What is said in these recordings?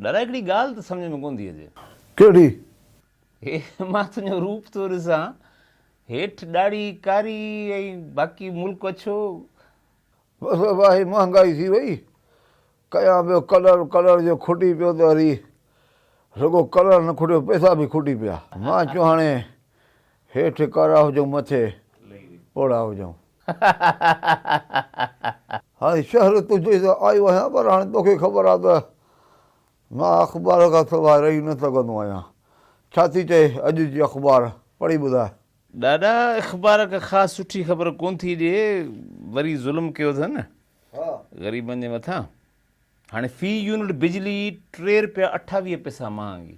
ڏاڏا هڪڙي ڳالهه ته سمجهه ۾ ڪونه ٿي اچي. ڪهڙي؟ هي مان تنهنجو روپ ٿو ڏسان، هيٺ ڏاڙهي ڪاري ۽ باقي ملڪ اڇو. بس واهي مهانگائي ٿي وئي، ڪيان پيو ڪلر، ڪلر جو کٽي پيو ته وري رڳو ڪلر نه کٽيو پئسا به کٽي پيا. مان چيو هاڻي هيٺ ڪارا هجون مٿي پوڙها هجون. هاڻي شهر تنهنجي ته آيو آهيان پر هاڻي توکي خبر آهي ته مان اخبار کان سواء رهي نه سگهندو آهيان. ڇا ٿي چئي اڄ جي اخبار پڙهي ٻڌاء. ڏاڏا اخبار ڪا خاص سٺي خبر ڪونه ٿي ڏي وري ظلم ڪيو اٿن غريبن جي مٿان هاڻي في يونٽ بجلي ٽي رپيا اٺاويهه پئسا مهانگي.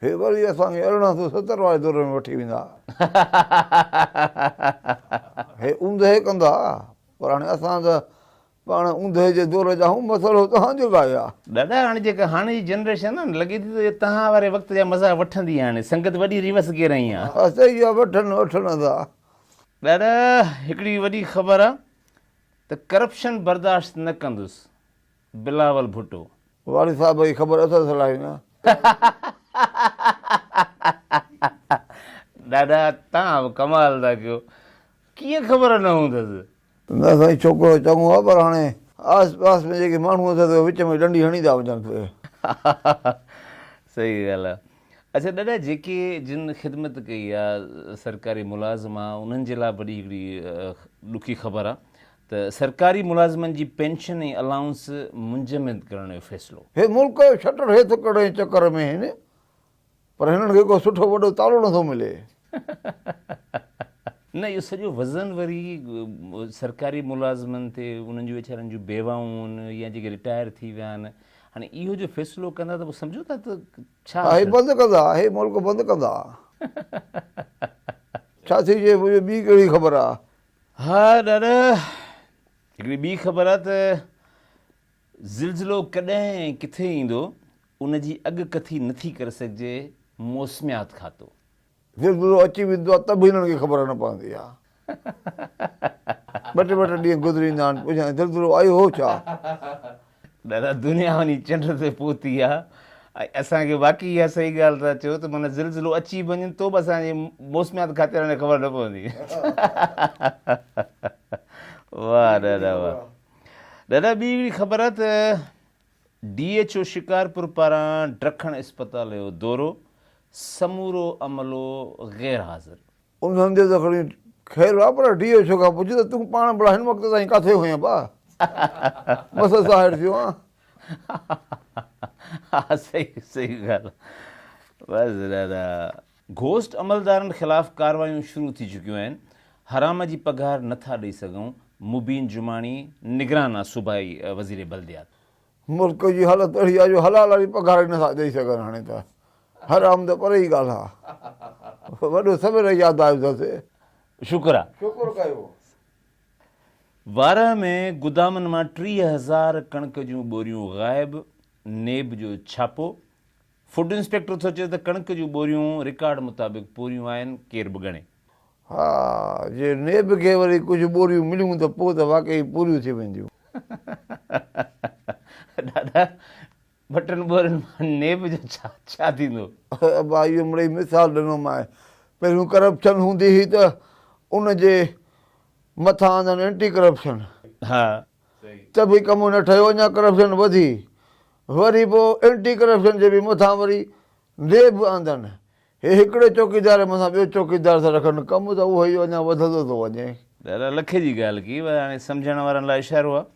هي وري اسان کي ارڙهن سؤ ستر واري دور ۾ وٺي ويندا. هي اوندهه ڪندا، پر هاڻي اسان ته پاڻ اوندهه جي دور جا آهيون، مسئلو توهان جو لاء آهي. دادا هاڻي جيڪا هاڻي جي جنريشن آهي نه، لڳي ٿي ته اها توهان واري وقت جا مزا وٺندي هاڻي، سنگت وڏي ريوس گيئر ۾ آهي. ها صحيح آهي، وٺن وٺن ادا. دادا هڪڙي وڏي خبر آهي ته ڪرپشن برداشت نه ڪندس. بلاول ڀٽو. واري صاحب هي خبر اٿس الائي نه. ڏاڏا توهان به ڪمال ٿا ڪيو ڪيئن خبر نه هوندس. نه سائين ڇوڪرو چڱو آ پر هاڻي آس پاس ۾ جيڪي ماڻهو اٿس اهي وچ ۾ ڏنڊي هڻي ٿا وڃن پئي. صحيح ڳالهه آ اڇا ڏاڏا جيڪي جن خدمت ڪئي آ سرڪاري ملازم آ انهن جي لاء وڏي هڪڙي ڏکي خبر آ ته سرڪاري ملازمن جي پينشن ۽ الائونس منجمد ڪرڻ جو فيصلو. هي ملڪ شٽر هيٿ ڪرڻ جي چڪر ۾ آهن پر هنن کي ڪو سٺو وڏو تالو نه ٿو ملي. نه اهو سڄو وزن وري سرڪاري ملازمن تي انهن جون ويچارن جون بيواهون يا جيڪي رٽائر ٿي ويا آهن هاڻي اهو جو فيصلو ڪندا ته پوء سمجهو ٿا ته ڇا ها هي بند ڪندا هي ملڪ بند ڪندا ڇا ٿي جي منهنجي ٻي ڪهڙي خبر آ. ها ڏاڏا، هڪڙي ٻي خبر آ ته زلزلو ڪڏهن ۽ ڪٿي ايندو، ان جي اڳڪٿي نٿي ڪري سگهجي، موسميات کاتو. زلزلو اچي ويندو آ ته به هنن کي خبر نه پوندي آ. ٻه ٽي ٻه ٽي ڏينهن گذري ايندا آهن، پڇيندا آهن زلزلو آيو هو ڇا؟ دادا دنيا وڃي چنڊ تي پهتي آ ۽ اسان کي واقعي اها صحيح ڳالهه ٿا چئو ته معنيٰ زلزلو اچي به وڃي تو به اسان جي موسميات کاتي وارن کي خبر نه پوندي واه دادا واه دادا ٻي هڪڙي خبر آ ته ڊي ايچ او شڪارپور پاران ڊکڻ اسپتال جو دورو سمورو عملو غير حاضر ان سمجهيو ته کڻي خير ويا پر ڊي ايڇ او کان پڇ ته تون پاڻ ڀلا هن وقت تائين ڪاٿي هئين ڀا؟ بس اسان هيٺ ٿيون ها. ها صحيح صحيح ڳالهه بس دادا. گهوسٽ عملدارن خلاف ڪاروايون شروع ٿي چڪيون آهن، حرام جي پگهار نٿا ڏئي سگهون، مبين جماڻي نگران آ صوبائي وزير بلديات. ملڪ جي حالت اھڙي آ جو حلال واري پگھار ئي نٿا ڏئي سگھن ھاڻي ته حرام ته پري ئي ڳالھ آ وڏو سوير ياد آيو اٿس. شڪر آ. شڪر ڪيو. وارهه ۾ گدامن مان ٽيهه هزار ڪڻڪ جون ٻوريون غائب، نيب جو ڇاپو. فوڊ انسپيڪٽر ٿو چئي ته ڪڻڪ جون ٻوريون رڪارڊ مطابق پوريون آهن، ڪير به ڳڻي. ها، جي نيب کي وري ڪجهه ٻوريون مليون ته پوء ته واقعي پوريون ٿي وينديون. دادا، ٻه ٽن ٻورين مان نيب جو ڇا ڇا ٿيندو؟ ابا، اهو مڙئي مثال ڏنومانء. پهريون ڪرپشن هوندي هئي ته ان جي مٿان آندن اينٽي ڪرپشن. ها، ته به ڪم نه ٺهيو اڃا ڪرپشن وڌي وري پوء اينٽي ڪرپشن جي به مٿان وري نيب آندن هي هڪڙي چوڪيدار جي مٿان ٻيو چوڪيدار ٿا رکن ڪم ته اهو ئي اڃا وڌندو ٿو وڃي. ڏاڏا لکي جي ڳالهه ڪئي پر هاڻي سمجهڻ وارن لاء اشارو آهي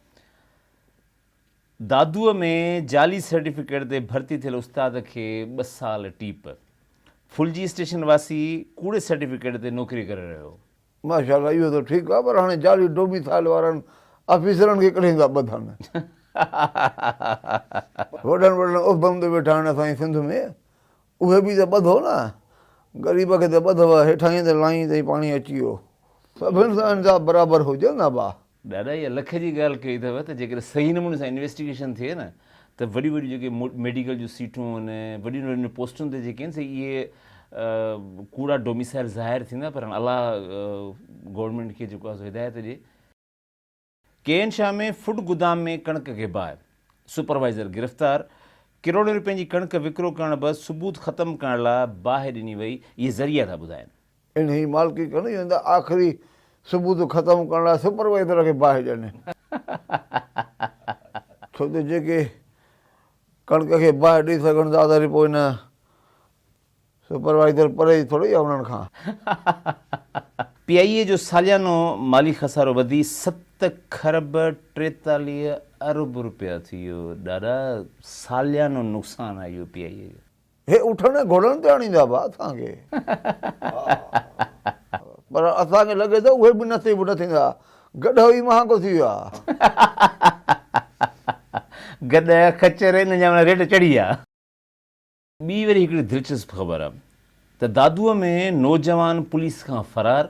دادوء ۾ جعلي سرٽيفڪيٽ تي ڀرتي ٿيل استاد کي ٻه سال ٽيپ ڦلجي اسٽيشن واسي ڪوڙي سرٽيفڪيٽ تي نوڪري ڪري رهيو هو ماشاء الله اهو ته ٺيڪ آ پر هاڻي جعلي ڊوميسائل وارن آفيسرن کي ڪڏهن ٿا ٻڌن. وڏن وڏن عهدن تي ويٺا آهن اسان جي سنڌ ۾ اهي به ته ٻڌو نه غريب کي ته ٻڌو هيٺاهين تي لائين تائين پاڻي اچي ويو سڀن سان انصاف برابر هجن ها ڀا. ڏاڏا اها لک جي ڳالهه ڪئي اٿو ته جيڪڏهن صحيح نموني سان انويسٽيگيشن ٿئي نه ته وڏيون وڏيون جيڪي ميڊيڪل جون سيٽون آهن وڏين وڏين پوسٽن تي جيڪي آهن سي اهي ڪوڙا ڊوميسائل ظاهر ٿيندا پر هاڻ الله گورنمينٽ کي جيڪو آهي هدايت ڏي. ڪي اين شاهه ۾ فوڊ گودام ۾ ڪڻڪ کي باهه، سپروائيزر گرفتار، ڪروڙين رپين جي ڪڻڪ وڪرو ڪرڻ بعد ثبوت ختم ڪرڻ لاء باهه ڏني وئي، اهي ذريعا ٿا ٻڌائين. انهيء مالڪي ڪن جنهن ته آخري ثبوت ختم ڪرڻ لاء سپروائيزر کي باهه ڏني. ڇو ته جيڪي ڪڻڪ کي باهه ڏئي سگهن ٿا ته وري پوء نه سپروائيزر پرهيز ٿوري آهي انهن کان. پي آء اي جو ساليانو مالي خسارو وڌي ست کرب ٽيتاليهه ارب رپيا ٿي ويو، ڏاڏا ساليانو نقصان آهي اهو پي آء اي جو. هي اٺن ۽ گهوڙن تي آڻيندا به اسان کي پر اسان کي لڳي ٿو اهي به نصيب نه ٿيندا. گڏهه ئي مهانگو ٿي ويو آهي. گڏهه، خچر انهن جا ريٽ چڙهي ويا. ٻي وري هڪڙي دلچسپ خبر ته دادوء ۾ نوجوان پوليس کان فرار،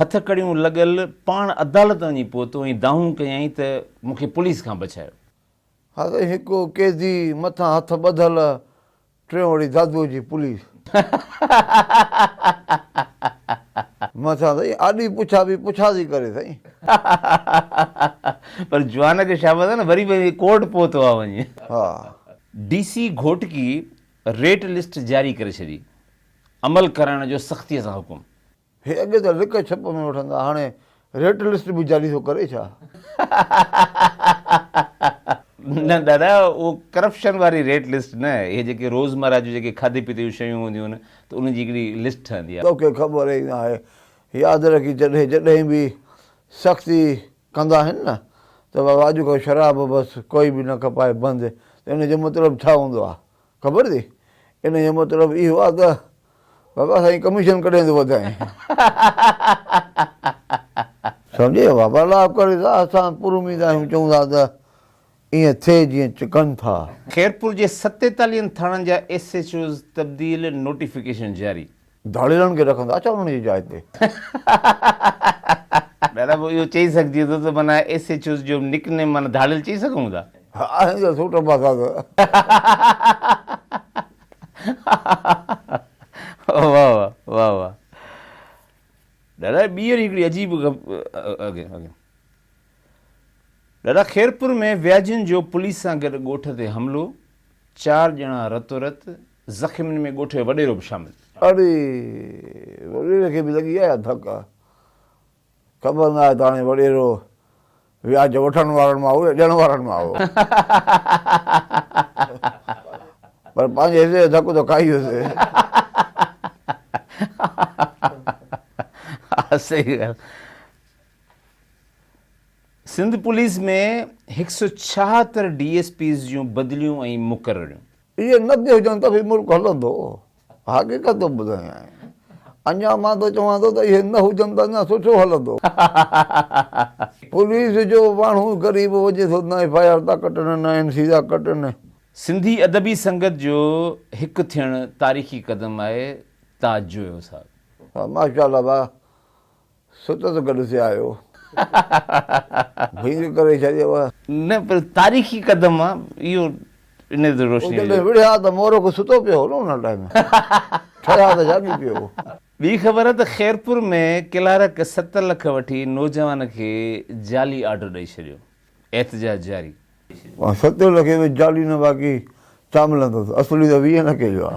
هٿ ڪڙيون لڳل پاڻ عدالت وڃي پهتو ۽ دانهون ڪيائين ته مون کي پوليس کان بچايو. هر هڪ قيدي مٿان هٿ ٻڌل، ٽيون وڙي دادوء جي پوليس. مٿان سائين آڏي پڇا به پڇا ٿي ڪري سائين. پر جوان کي شاباس آهي نه وري به ڪورٽ پهتو آهي وڃي. ها. D C Ghotki rate list جاري ڪري ڇڏي، عمل ڪرائڻ جو سختيء سان حڪم. هي اڳي ته لڪ ڇپ ۾ وٺندا هاڻي ريٽ لسٽ به جاري ٿو ڪري ڇا؟ نه دادا اهو ڪرپشن واري ريٽ لسٽ نه اهي جيڪي روزمره جون جيڪي کاڌي پيتي جون شيون هونديون آهن ته ان جي هڪڙي لسٽ ٺهندي آهي. توکي خبر ئي ناهي ياد رکي جڏهن جڏهن به سختي ڪندا آهن نه ته بابا اڄ کان شراب بس ڪوئي به نه کپائي بند ته ان جو مطلب ڇا هوندو آهي خبر اٿئي ان جو مطلب اهو آهي ته بابا سائين ڪميشن ڪڏهن ٿو وڌائين. سمجهي ويو بابا الله ڪري ته اسان پر اميد آهيون چئون ٿا ته ائين ٿئي جيئن چڪن ٿا. خيرپور جي ستيتاليهن ٿاڻن جا ايس ايڇ اوز تبديل، نوٽيفڪيشن جاري. ڌاڙيلن کي رکندا ڇا انهن جي جاء تي؟ دادا پوء اهو چئي سگهجي ٿو ته معنيٰ ايس ايڇ اوز جو نڪ نيم معنيٰ ڌاڙيل چئي سگهون ٿا؟ ها هن جا سوٽ ابا ساز. واهه واهه واهه واهه دادا ٻيهر هڪڙي عجيب اڳين دادا خيرپور ۾ وياجين جو پوليس سان گڏ ڳوٺ تي حملو چار ڄڻا رتو رت زخمين ۾ ڳوٺ جو وڏيرو به شامل. اڙي! وڏيري کي به لڳي آهي ڌڪ. خبر نه آهي ته هاڻي وڏيرو وياج وٺڻ وارن مان هو يا ڏيڻ وارن مان هو. پر پنهنجي حصي جو ڌڪ ته کائي ويسي. سنڌ پوليس ۾ هڪ سؤ ڇاهتر ڊي ايس پيز جون بدليون ۽ مقرريون. اهي نه به هجن ته به ملڪ هلندو. حقيقت ٿو ٻڌايانء. اڃا مان ته چوان ٿو ته اهي نه هجن ته اڃا سٺو هلندو. پوليس جو ماڻهو غريب وڃي ٿو نه ايف آء آر ٿا ڪٽن نه اين سي ٿا ڪٽن. سنڌي ادبي سنگت جو هڪ ٿيڻ تاريخي قدم آهي تاج جويو صاحب. ماشاء الله ڀاء. سٽ ته گڏ ٿي آيو. ڀينگ ڪري ڇڏيو. نه پر تاريخي قدم آ اهو انهي تي روشني وجهي. جڏهن وڙهيا ته مورک ستو پيو هو نه ان ٽائيم ٺريا ته جاڳي پيو هو. ٻي خبر ته خيرپور ۾ ڪلارڪ ست لک وٺي نوجوان کي جعلي آرڊر ڏئي ڇڏيو، احتجاج جاري. مان ستين لکين ۾ جعلي نه باقي چا ملندس اصلي ته ويهه لکين جو آ.